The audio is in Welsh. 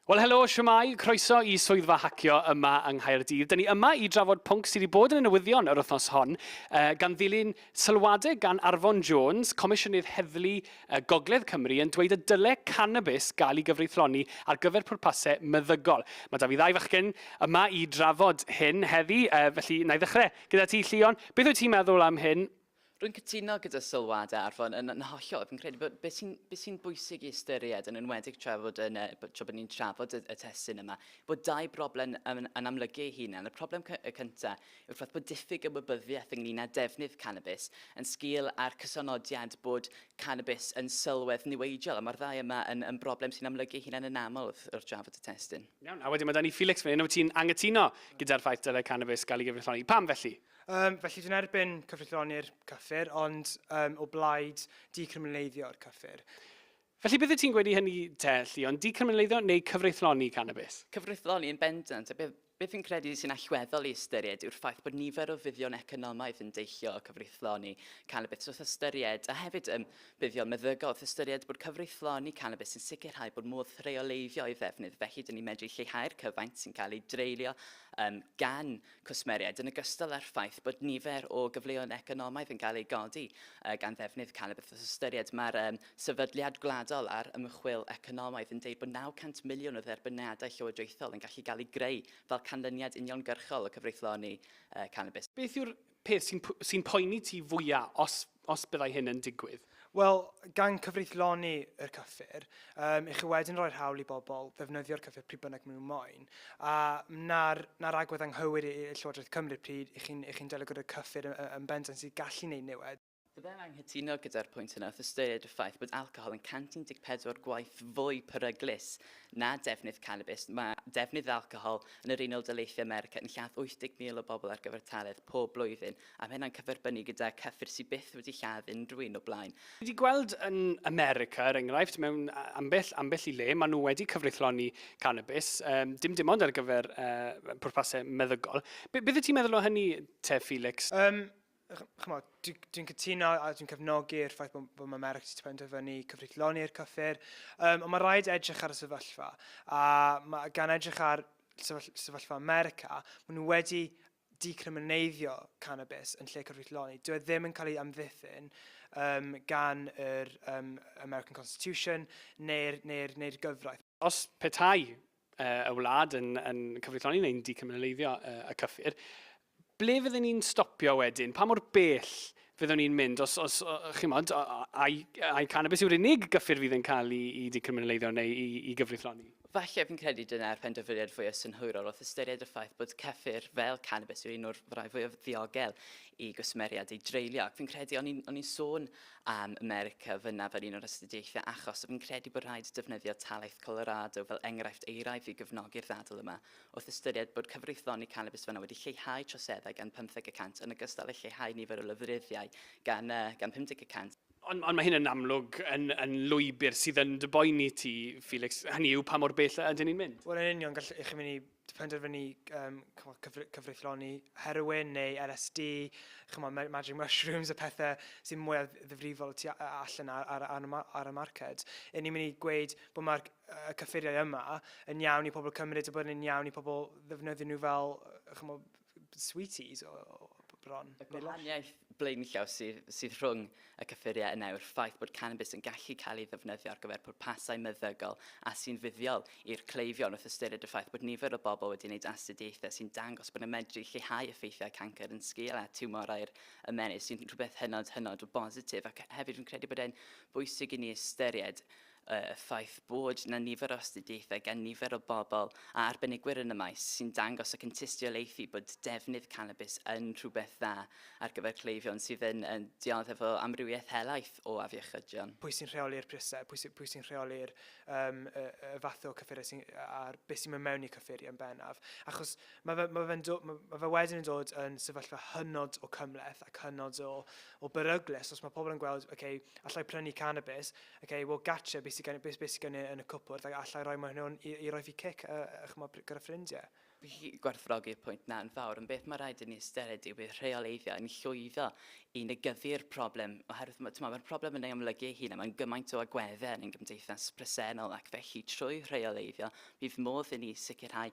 Wel helo, shwmae, croeso i Swyddfa Hacio yma yng Nghaerdydd. Dyn ni yma i drafod pwnc sydd wedi bod yn y newyddion yr wythnos hon, uh, gan ddilyn sylwadau gan Arfon Jones, Comisiynydd Heddlu uh, Gogledd Cymru, yn dweud y dyle cannabis gael ei gyfreithloni ar gyfer pwrpasau meddygol. Mae da fi ddau fachgen yma i drafod hyn heddi, uh, felly na i ddechrau gyda ti, Llion. Beth wyt ti'n meddwl am hyn? Rwy'n cytuno gyda sylwadau Arfon yn yn hollol. Fi'n credu bod beth sy'n beth sy'n bwysig i ystyried, yn enwedig tra fod yn, uh, tra bod ni'n trafod y, y testun yma, bod dau broblem yn, yn amlygu ei hunan. Y problem cy y cyntaf yw'r ffaith bod diffyg ymwybyddiaeth ynglyn â defnydd cannabis yn sgil a'r cysonodiad bod cannabis yn sylwedd niweidiol, a mae'r ddau yma yn, yn broblem sy'n amlygu ei hunan yn aml wrth, wrth drafod y testun. Iawn, a wedyn mae da ni Felix fan hyn. Wyt ti'n angytuno gyda'r ffaith dylai cannabis gael ei gyfreithloni? Pam felly? Um, felly dwi'n erbyn cyfreithloni'r cyffur, ond um, o blaid dicriminleiddio'r cyffur. Felly bydde ti'n gwedi hynny te, lli, ond dicriminleiddio neu cyfreithloni cannabis? Cyfreithloni yn bendant, a beth, beth fi'n credu sy'n allweddol i ystyried yw'r ffaith bod nifer o fuddion economaidd yn deillio o cyfreithloni cannabis wrth ystyried, a hefyd um, buddion meddygol wrth ystyried bod cyfreithloni cannabis yn sicrhau bod modd rheoleiddio ei ddefnydd, felly dyn ni'n medru lleihau'r cyfaint sy'n cael ei dreulio um, gan cwsmeriaid, yn ogystal â'r ffaith bod nifer o gyfleoedd economaidd yn cael eu codi gan ddefnydd Calebeth. Os ystyried, mae'r Sefydliad Gwladol ar Ymchwil Economaidd yn deud bod 900 miliwn o dderbyniadau llywodraethol yn gallu cael eu greu fel canlyniad uniongyrchol o cyfreithloni canabis. Beth yw'r peth sy'n poeni ti fwyaf os byddai hyn yn digwydd? Wel, gan cyfreithloni yr cyffur, um, i chi wedyn roi'r hawl i bobl ddefnyddio'r cyffur pryd bynnag maen nhw moyn, a na'r, na agwedd anghywir i, i Llywodraeth Cymru pryd i chi'n chi delio gyda'r cyffur yn, yn bendant sy'n gallu gwneud niwed. Byddai'n anghytuno gyda'r pwynt yna wrth ystyried y ffaith bod alcohol yn 114 gwaith fwy peryglus na defnydd canabis. Mae defnydd alcohol yn yr Unol Daleithiau America yn lladd 80,000 o bobl ar gyfer taredd pob blwyddyn, A mae hynna'n cyferbynnu gyda cyffur sydd byth wedi lladd unrhyw un o blaen. Dwi wedi gweld yn America, er enghraifft, mewn ambell, ambell i le, maen nhw wedi cyfreithloni canabis, um, dim dim ond ar gyfer uh, pwrpasau meddygol. Be, beth ti'n meddwl o hynny, te, Felix? Um, chymod, dwi'n cytuno a dwi'n cefnogi'r ffaith bod, bod America wedi penderfynu cyfreithloni'r cyffur, um, ond mae rhaid edrych ar y sefyllfa. A mae, gan edrych ar sefyllfa America, maen nhw wedi dicrimineiddio canabis yn lle cyrwylloni. Dwi e ddim yn cael ei amddiffyn um, gan yr um, American Constitution neu'r neu neu gyfraith. Os petai uh, y wlad yn, yn cyfreithloni neu'n dicriminaleiddio uh, y cyffur, ble fydden ni'n stopio wedyn? Pa mor bell fyddwn ni'n mynd, os, os chymod, ai, ai cannabis yw'r unig gyffur fydd yn cael ei, ei dicriminaleiddio neu i, i gyfreithloni? Falle fi'n credu dyna'r penderfyniad fwy o synhwyrol wrth ystyried y ffaith bod ceffyr fel cannabis yw'r un o'r rai fwyaf ddiogel i gwsmeriad ei dreulio. Ac fi'n credu, o'n i'n sôn am America fyna fel un o'r astudiaethau achos, fi'n credu bod rhaid defnyddio talaith Colorado fel enghraifft eiraidd i gyfnogi'r ddadl yma. wrth ystyried bod cyfreithloni canabis fanno wedi lleihau troseddau gan 50 y cant, yn ogystal â lleihau nifer o lyfruddiau gan, uh, gan 50 y cant. Ond, ond mae hyn yn amlwg yn, yn lwybr sydd yn dy boeni ti, Felix, hynny yw pa mor bell ydyn ni'n mynd? Wel, yn union, gall chi mynd i penderfynu um, cyfre cyfreithloni heroin neu LSD, chymod, magic mushrooms, y pethau sy'n mwyaf ddifrifol tu allan ar, ar, ar, ar y marced. Yn ni'n mynd i gweud bod mae'r y cyffuriau yma yn iawn i pobl cymryd a bod yn iawn i pobl ddefnyddio nhw fel chymod, sweeties o, o, o bron. Y gwahaniaeth blaenllaw sydd, sydd rhwng y cyffuriau yna yw'r ffaith bod cannabis yn gallu cael ei ddefnyddio ar gyfer pwrpasau meddygol a sy'n fuddiol i'r cleifion wrth ystyried y ffaith bod nifer o bobl wedi gwneud astudiaethau sy'n dangos bod yn medru lleihau effeithiau cancer yn sgil a tiwmorau'r ymennydd sy'n rhywbeth hynod hynod o bositif ac hefyd fi'n credu bod e'n bwysig i ni ystyried y ffaith bod 'na nifer o astudiaethau gan nifer o bobl a arbenigwyr yn y maes sy'n dangos ac yn tystiolaethu bod defnydd canabis yn rhywbeth dda ar gyfer cleifion sydd yn, yn dioddef efo amrywiaeth helaeth o afiechyddion. Pwy sy'n rheoli'r prisau? Pwy, sy, pwy sy'n rheoli'r um, y, y fath o cyffuriau sy'n, a'r beth sy'n mynd mewn i cyffuriau yn bennaf? Achos mae fe, mae fe, do, mae, mae fe wedyn yn dod yn sefyllfa hynod o cymleth ac hynod o, o beryglus os mae pobl yn gweld, oce, okay, allai prynu cannabis, okay, well, gotcha, beth sy'n beth, beth gen yn y cwpwrdd, ac allai roi maen nhw'n i, i roi fi cic, uh, chymod, gyda ffrindiau. Fi chi gwerthfawrogi'r pwynt na'n fawr, ond beth mae rhaid i ni ystyried yw bydd rheoleiddio yn llwyddo i negyfu'r problem, oherwydd mae'r problem yn ei amlygu ei hun, a mae'n gymaint o agweddau yn ein gymdeithas presennol, ac felly trwy rheoleiddio, bydd modd i ni sicrhau